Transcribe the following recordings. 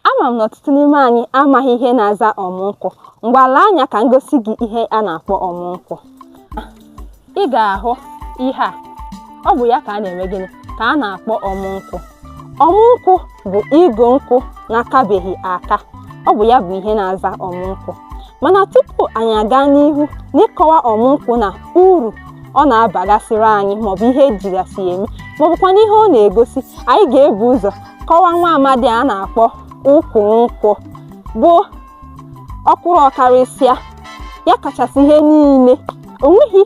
Ama m na ọtụtụ n'ime anyị amaghị ihe na-aza ọmụ nkwụ. Ngwa lee anya ka m gosi gị ihe a na-akpọ ọmụ nkwụ. Ị ga-ahụ ihe a. Ọ bụ ya ka a na-eme gịnị? Ka a na-akpọ ọmụ nkwụ. Ọmụ nkwụ bụ igu nkwụ na-akabeghị aka. Ọ bụ ya bụ ihe na-aza ọmụ nkwụ. Mana tupu anyị aga n'ihu n'ịkọwa ọmụ nkwụ na uru ọ na-abagasịrị anyị maọbụ ihe ejigasị ya eme maọbụkwanụ ihe ọ na-egosi, anyị ga-ebu ụzọ kọwaa nwa amadi a na-akpọ ukwu nkwụ bụ ọkwụrụ ọkarịsịa ya kachasị ihe niile o nweghị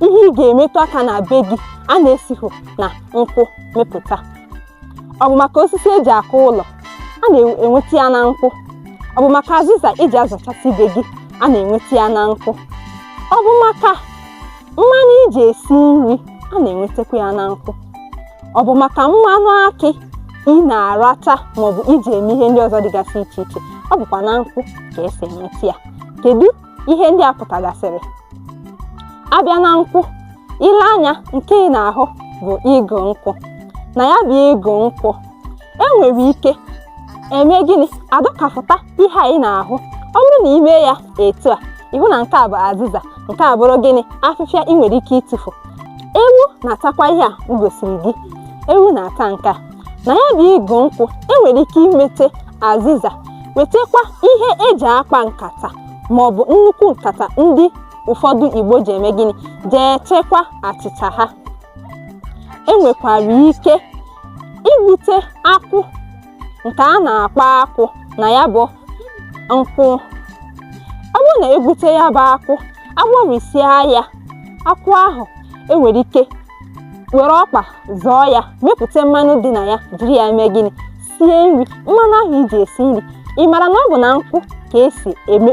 ihe ị ga-emetụ aka na be gị a na-esighị na nkwụ mepụta ọ bụ maka osisi eji akụ ụlọ a na-enweta ya na nkwụ ọ bụ maka azịza eji azachasị be gị a na-enweta ya na nkwụ ọ bụ maka mmanụ iji esi nri a na-enwetakwa ya na nkwụ ọ bụ maka mmanụ akị ị na-aracha maọbụ iji eme ihe ndị ọzọ dịgasị iche iche ọ bụkwa na nkwụ ka esi enweta ya kedu ihe ndị a pụtagasịrị abịa na nkwụ ile anya nke ị na-ahụ bụ igu nkwụ na ya bụ igu nkwụ enwere ike eme gịnị adọkapụta ihe a ị na-ahụ ọ bụrụ na ime ya etu a ịhụ na nke a bụ azịza nke a bụrụ gịnị afịfịa ị nwere ike ịtụfu ewu na-atakwa ihe a m gosiri gị ewu na-ata nke a na ya bụ igu nkwụ enwere ike imete azịza wetakwa ihe eji akpa nkata ma ọ bụ nnukwu nkata ndị ụfọdụ igbo ji eme gịnị ji echekwa achịcha ha enwekwara ike igbute akwụ nke a na-akpọ akwụ na ya bụ nkwụ ọ bụrụ na egbute ya bụ akwụ agwọrịsịa ya akwụ ahụ enwere ike were ọkpa zọọ ya mepụta mmanụ dị na ya jiri ya mee gịnị sie nri mmanụ ahụ iji esi nri ị mara na ọ bụ na nkwụ ka esi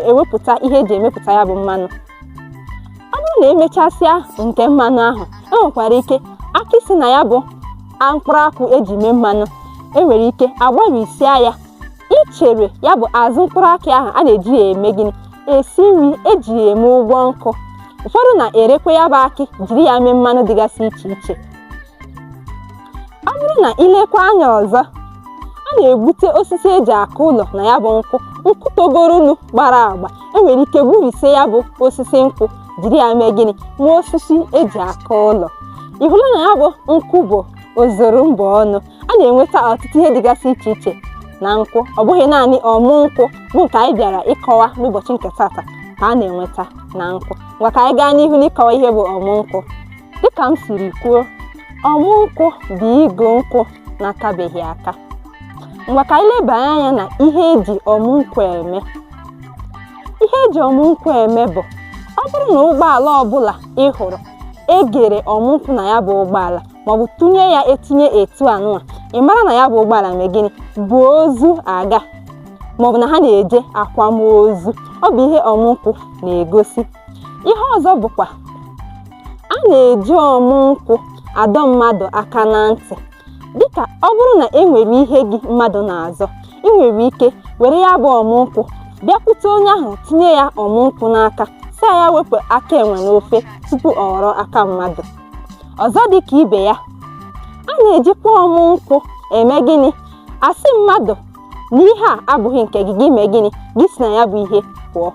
ewepụta ihe eji emepụta ya bụ mmanụ ọ bụrụ na emechasịa nke mmanụ ahụ e nwekwara ike akị si na ya bụ mkpụrụ akwụ eji mee mmanụ enwere ike agbarisịa ya ichere ya bụ azụ mkpụrụ akị ahụ a na-eji ya eme gịnị esi nri eji ya eme ụgwọ nkụ ụfọdụ na-erekwa ya bụ akị jiri ya mee mmanụ dịgasị iche iche ọ bụrụ na ilekwa anya ọzọ a na-egbute osisi eji akụ ụlọ na ya bụ nkwụ nkwụ togoronu gbara agba enwere ike gburisie ya bụ osisi nkwụ jiri ya mee gịnị ma osisi eji akụ ụlọ ị hụla na ya bụ nkwụ bụ ozuru mba ọnụ a na-enweta ọtụtụ ihe dịgasị iche iche na nkwụ ọ bụghị naanị ọmụ nkwụ bụ nke anyị bịara ịkọwa n'ụbọchị nke tata ka a na-enweta na nkwụ ngwa ka anyị gaa n'ihu n'ịkọwa ihe bụ ọmụ nkwụ dịka m siri kwuo ọmụ nkwụ bụ igu nkwụ na-akabeghị aka ngwa ka anyị leba anya na ihe eji ọmụ nkwụ eme ihe eji ọmụ nkwụ eme bụ ọ bụrụ na ụgbọala ọbụla ị hụrụ egere ọmụ nkwụ na ya bụ ụgbọala maọbụ tụnye ya etinye etu anụwa ị mara na ya bụ ụgbọala mee gịnị bu ozu aga maọbụ na ha na-eje akwamozu ọ bụ ihe ọmụ nkwụ na-egosi ihe ọzọ bụkwa a na-eji ọmụ nkwụ adọ mmadụ aka na ntị dịka ọ bụrụ na e nwere ihe gị mmadụ na-azọ ị nwere ike were ya bụ ọmụ nkwụ bịakwute onye ahụ tinye ya ọmụ nkwụ n'aka sị ya wepụ aka enwe n'ofe tupu ọ ghọrọ aka mmadụ ọzọ dị ka ibe ya a na-ejikwa ọmụ nkwụ eme gịnị asị mmadụ na ihe a abụghị nke gị gị mee gịnị gị si na ya bụ ihe pụọ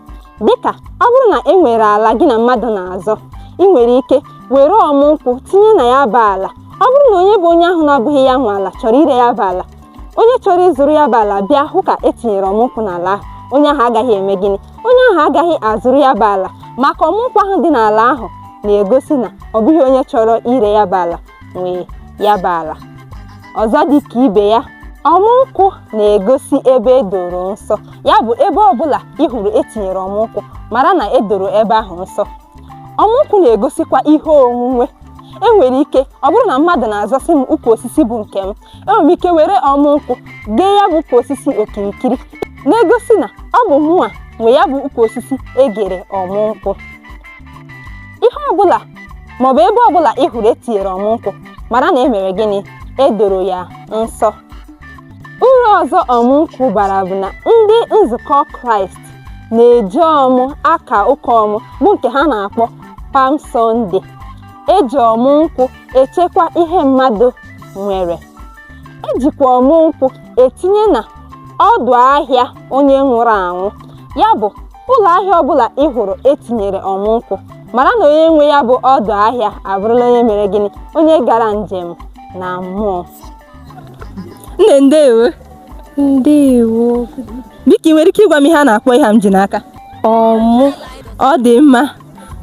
dịka ọ bụrụ na e nwere ala gị na mmadụ na-azọ ị nwere ike were ọmụ nkwụ tinye na ya bụ ala ọ bụrụ na onye bụ onye ahụ na-abụghị ya nwe ala chọrọ ire ya bụ ala onye chọrọ ịzụrụ ya bụ ala bịa hụ ka etinyere ọmụ nkwụ n'ala ahụ onye ahụ agaghị eme gịnị onye ahụ agaghị azụrụ ya bụ ala maka ọmụnkwụ ahụ dị n'ala ahụ na-egosi na ọ bụghị onye chọrọ ire ya bụ ala nwe ya bụ ala ọzọ dị ka ibe ya ọmụnkwụ na-egosi ebe edoro nsọ ya bụ ebe ọbụla ị hụrụ etinyere ọmụnkwụ mara na edoro ebe ahụ nsọ ọmụnkwụ na-egosikwa ihe onwunwe enwere ike ọ bụrụ na mmadụ na-azọsị m ukwu osisi bụ nke m enwere m ike were ọmụ nkwụ gee ya bụ ukwu osisi okirikiri na-egosi na ọ bụ mụnwa nwe ya bụ ukwu osisi egere ọmụ nkwụ ihe ọbụla maọbụ ebe ọbụla ị hụrụ etinyere ọmụ nkwụ mara na e mere gịnị edoro ya nsọ uru ọzọ ọmụ nkwụ bara bụ na ndị nzukọ kraịst na-eji ọmụ aka ụka ọmụ bụ nke ha na-akpọ Palm Sunday eji ọmụ nkwụ echekwa ihe mmadụ nwere ejikwa ọmụ nkwụ etinye na ọdụ ahịa onye nwụrụ anwụ ya bụ ụlọ ahịa ọbụla ị hụrụ etinyere ọmụ nkwụ mara na onye nwe ya bụ ọdụ ahịa abụrụla onye mere gịnị onye gara njem na mmụọ nne ndewo ndewo biko ị nwere ike ịgwa m ihe a na-akpọ ihe m ji n'aka ọmụ ọ dị mma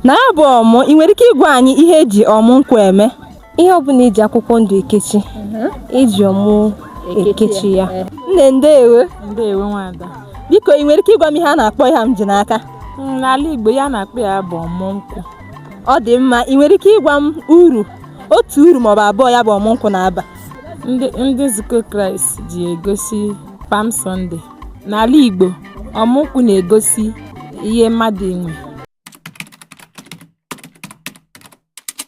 na ya bụ ọmụ ị nwere ike ịgwa anyị ihe eji ọmụ nkwụ eme ihe ọbụla eji akwụkwọ ndụ ekechi eji mhm. ọmụ ekechi ya eh. nne ndeewo ndeewo nwada biko ị nwere ike ịgwa m ihe a na-akpọ ihe a m ji n'aka hmm, n'ala igbo ihe a na-akpọ ya bụ ọmụ nkwụ ọ dị mma ị nwere ike ịgwa m uru otu uru maọbụ abụọ ya bụ ọmụ nkwụ na-aba ndị nzukọ kraịst ji egosi Palm Sunday n'ala igbo ọmụ nkwụ na-egosi ihe mmadụ nwe